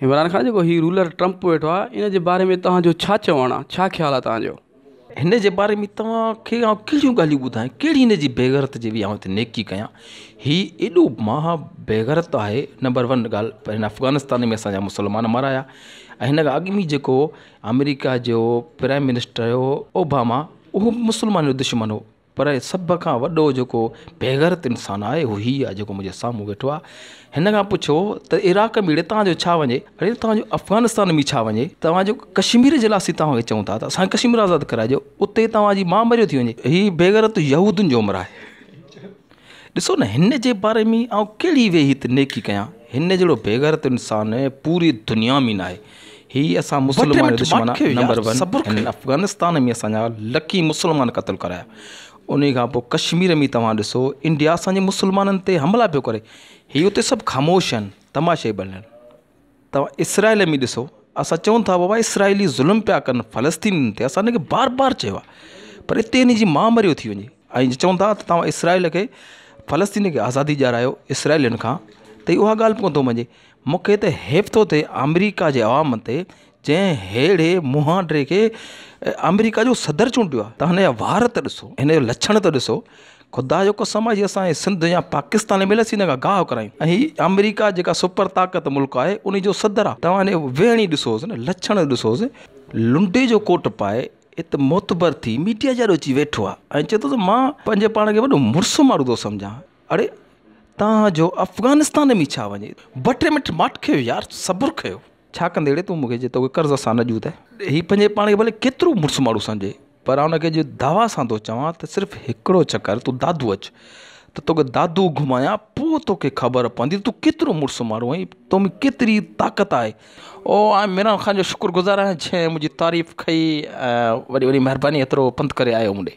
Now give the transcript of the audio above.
عمران خان جيڪو هي ruler Trump ويٺو آهي ان جي باري ۾ توهان جو ڇا چوڻ آهي ڇا خيال آهي توهان جو هن جي باري ۾ توهان کي ڪهڙيون ڳالهيون ٻڌايان ڪهڙي هن جي بيغيرت جي آئون هتي نيڪي ڪيان هي ايڏو مها بيغيرت آهي نمبر ون ڳالهه هن افغانستان ۾ اسانجا مسلمان مارايا ۽ هن کان اڳ ۾ جيڪو آمريڪا جو پرائيم منسٽر هو اوباما اهو مسلمان جو دشمن هو پر سڀ کان وڏو جيڪو بيغيرت انسان آهي اهو هي آهي جيڪو منهنجي سامهون ويٺو آهي هن کان پڇو ته عراق ۾ تان جو ڇا وڃي اڙي تان جو افغانستان ۾ ڇا وڃي تان جو ڪشمير جي لاسي تان چون ٿا ته اسان ڪشمير آزاد ڪرائجو اتي توهان جي مان مريو ٿي وڃي هي بيغيرت يهودين جو عمر آهي ڏسو نه هن جي باري ۾ آئون ڪهڙي ويهي ته نيڪي ڪيان. هن جهڙو بيغيرت انسان پوري دنيا ۾ ناهي. هي اسان مسلمان جو دشمن آهي نمبر ون هن افغانستان ۾ اسان جا لکين مسلمان قتل ڪرايا انهي کان پوء ڪشمير ۾ توهان ڏسو انڊيا اسان جي مسلمانن تي حملا پيو ڪري هي اتي سڀ خاموش آهن تماشائي بڻيل. توهان اسرائيل ۾ ڏسو اسان چئون ٿا بابا اسرائيلي ظلم پيا ڪن فلسطينين تي اسان انکي بار بار چيو آ پر اتي انجي ماء مريو ٿي وڃي ۽ چئون ٿا ته توهان اسرائيل کي فلسطين کي آزادي ڏيارايو اسرائيلين کان ته اها ڳالهه به ڪونه مڃي مونکي ته حيف ٿو ٿئي آمريڪا جي عوام تي جنهن ههڙي مهانڊي کي آمريڪا جو صدر چونڊيو آ ته هن جا وار ته ڏسو هن جو لڇڻ ته ڏسو خدا جو قسم آهي جي اسان جي سنڌ يا پاڪستان ايم ايل اي سينه کان گاهه ڪرايون ۽ هي آمريڪا جيڪا سپر طاقت ملڪ آهي انهي جو صدر آهي توهان انهي جو ويهڻ ئي ڏسوس نه لڇڻ ڏسوس لنڊي جو ڪوٽ پائي هت معتبر ٿي ميڊيا جي آڏو اچي ويٺو آهي ۽ چئي ٿو ته مان پنهنجي پاڻ کي وڏو مڙس مارو ٿو سمجهان اڙي توهان جو افغانستان ۾ ڇا وڃي ٻه ٽي منٽ ماٺ ڪيو يار صبر ڪيو ڇا ڪندي اڙي تون مون کي جي توکي قرض اسان نه ڏيون ته هي پنهنجي پاڻ کي ڀلي ڪيترو مڙس ماڻهو سمجهي پر آئون کي اڄ دعويٰ سان ٿو چوان ته صرف هڪڙو چڪر تون دادو اچ ته توکي دادو گهمايان پوء توکي خبر پوندي ته تون ڪيترو مڙس ماڻهو آهين ۽ تو ۾ ڪيتري طاقت آهي. او آء عمران خان جو شڪر گذار آهيان جنهن منهنجي تعريف ڪئي ۽ وڏي وڏي مهرباني ايترو پنڌ ڪري آيو مون ڏي.